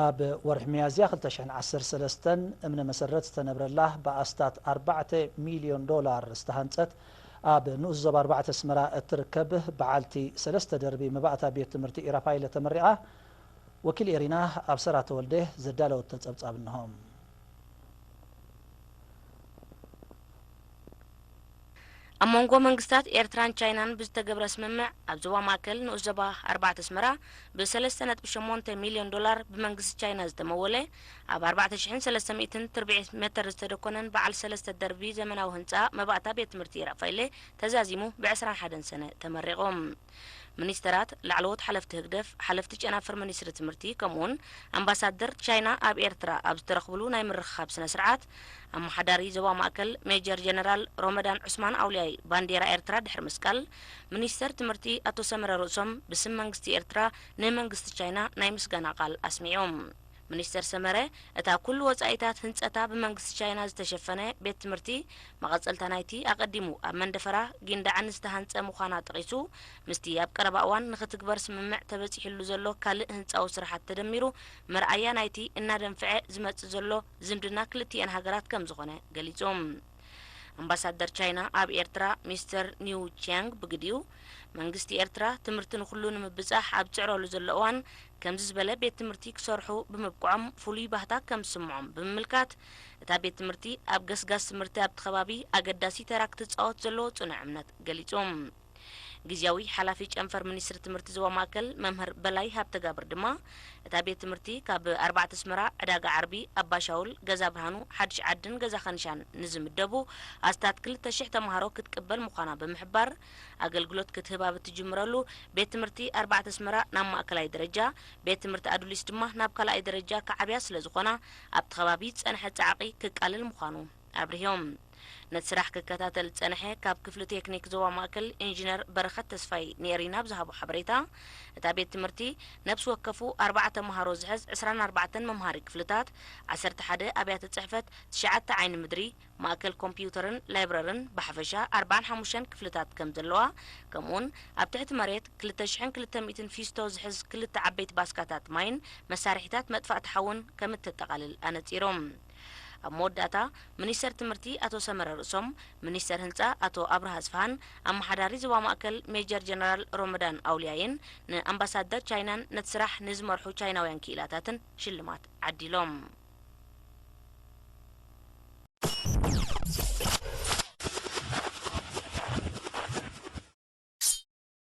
ኣብ ወርሒ ሚያዝያ ክልተ ሽሕን ዓሰርተ ሰለስተን እምነ መሰረት ዝተነብረላ ብኣስታት ኣርባዕተ ሚልዮን ዶላር ዝተሃንጸት ኣብ ንኡስ ዞባ ኣርባዕተ ኣስመራ እትርከብ በዓልቲ ሰለስተ ደርቢ መባእታ ቤት ትምህርቲ ኢራፋይለ ተመሪቓ። ወኪል ኤሪና ኣብሰራ ተወልደ ዘዳለወቶ ጸብጻብ እንሆ። ኣብ መንጎ መንግስታት ኤርትራን ቻይናን ብዝተገብረ ስምምዕ ኣብ ዞባ ማእከል ንኡስ ዞባ ኣርባዕተ ኣስመራ ብሰለስተ ነጥቢ ሸሞንተ ሚልዮን ዶላር ብመንግስቲ ቻይና ዝተመወለ ኣብ ኣርባዕተ ሽሕን ሰለስተ ሚእትን ትርብዒት መተር ዝተደኮነን በዓል ሰለስተ ደርቢ ዘመናዊ ህንጻ መባእታ ቤት ትምህርቲ ራፋይለ ተዛዚሙ ብዕስራን ሓደን ሰነ ተመሪቑ። ሚኒስተራት፣ ላዕለዎት ሓለፍቲ ህግደፍ፣ ሓለፍቲ ጨናፍር ሚኒስትሪ ትምህርቲ ከምኡ'ውን ኣምባሳደር ቻይና ኣብ ኤርትራ ኣብ ዝተረኽብሉ ናይ ምርኽኻብ ስነ-ስርዓት፣ ኣመሓዳሪ ዞባ ማእከል ሜጀር ጀነራል ሮመዳን ዑስማን ኣውልያይ ባንዴራ ኤርትራ ድሕሪ ምስቃል፣ ሚኒስተር ትምህርቲ ኣቶ ሰመረ ርእሶም ብስም መንግስቲ ኤርትራ ንመንግስቲ ቻይና ናይ ምስጋና ቃል ኣስሚዖም። ሚኒስተር ሰመረ፣ እታ ኩሉ ወጻኢታት ህንጸታ ብመንግስቲ ቻይና ዝተሸፈነ ቤት ትምህርቲ፣ መቐጸልታ ናይቲ ኣቐዲሙ ኣብ መንደፈራ፣ ጊንዳዕን ዝተሃንጸ ምዃና ጠቒሱ፣ ምስቲ ኣብ ቀረባ እዋን ንኽትግበር ስምምዕ ተበጺሕሉ ዘሎ ካልእ ህንጻዊ ስራሓት ተደሚሩ፣ መርኣያ ናይቲ እናደንፍዐ ዝመጽእ ዘሎ ዝምድና ክልቲኤን ሃገራት ከምዝኾነ ገሊጹ። ኣምባሳደር ቻይና ኣብ ኤርትራ ሚስተር ኒው ቺያንግ ብግዲኡ፣ መንግስቲ ኤርትራ ትምህርቲ ንኹሉ ንምብጻሕ ኣብ ዝጽዕረሉ ዘሎ እዋን ከምዚ ዝበለ ቤት ትምህርቲ ክሰርሑ ብምብቅዖም ፍሉይ ባህታ ከምዝስምዖም ብምምልካት፣ እታ ቤት ትምህርቲ ኣብ ገስጋስ ትምህርቲ ኣብቲ ከባቢ ኣገዳሲ ተራ ክትጻወት ዘለዎ ጽኑዕ እምነት ገሊጹ። ግዝያዊ ሓላፊ ጨንፈር ሚኒስትሪ ትምህርቲ ዞባ ማእከል መምህር በላይ ሃብተጋብር ድማ እታ ቤት ትምህርቲ ካብ ኣርባዕተ ኣስመራ፣ ዕዳጋ ዓርቢ፣ ኣባሻውል፣ ገዛ ብርሃኑ፣ ሓድሽ ዓድን ገዛ ከንሻን ንዝምደቡ ኣስታት ክልተ ሽሕ ተማሃሮ ክትቅበል ምዃና ብምሕባር ኣገልግሎት ክትህብ ኣብ እትጅምረሉ ቤት ትምህርቲ ኣርባዕተ ኣስመራ ናብ ማእከላይ ደረጃ ቤት ትምህርቲ ኣዱሊስ ድማ ናብ ካልኣይ ደረጃ ክዓብያ ስለዝኾና ኣብቲ ከባቢ ዝጸንሐ ጻዕቒ ክቃልል ምዃኑ ኣብሪሆም። ነቲ ስራሕ ክከታተል ዝጸንሐ ካብ ክፍሊ ቴክኒክ ዞባ ማእከል ኢንጂነር በረኸት ተስፋይ ንኤሪና ኣብ ዝሃቦ ሓበሬታ፣ እታ ቤት ትምህርቲ ነብሲ ወከፉ ኣርብዓ ተመሃሮ ዝሕዝ ዕስራን ኣርባዕተን መምሃሪ ክፍልታት፣ ዓሰርተ ሓደ ኣብያተ ጽሕፈት፣ ትሽዓተ ዓይኒ ምድሪ፣ ማእከል ኮምፕዩተርን ላይብረርን ብሓፈሻ ኣርብዓን ሓሙሽተን ክፍልታት ከም ዘለዋ ከምኡ'ውን ኣብ ትሕቲ መሬት ክልተ ሽሕን ክልተ ሚእትን ፊስቶ ዝሕዝ ክልተ ዓበይቲ ባስካታት ማይን መሳርሒታት መጥፋእቲ ሓውን ከም እተጠቓልል ኣነጺሮም። ኣብ መወዳእታ ሚኒስተር ትምህርቲ ኣቶ ሰመረ ርእሶም፣ ሚኒስተር ህንጻ ኣቶ ኣብርሃ ኣስፍሃን ኣመሓዳሪ ዞባ ማእከል ሜጀር ጀነራል ሮመዳን ኣውልያይን ንኣምባሳደር ቻይናን ነቲ ስራሕ ንዝመርሑ ቻይናውያን ክኢላታትን ሽልማት ዓዲሎም።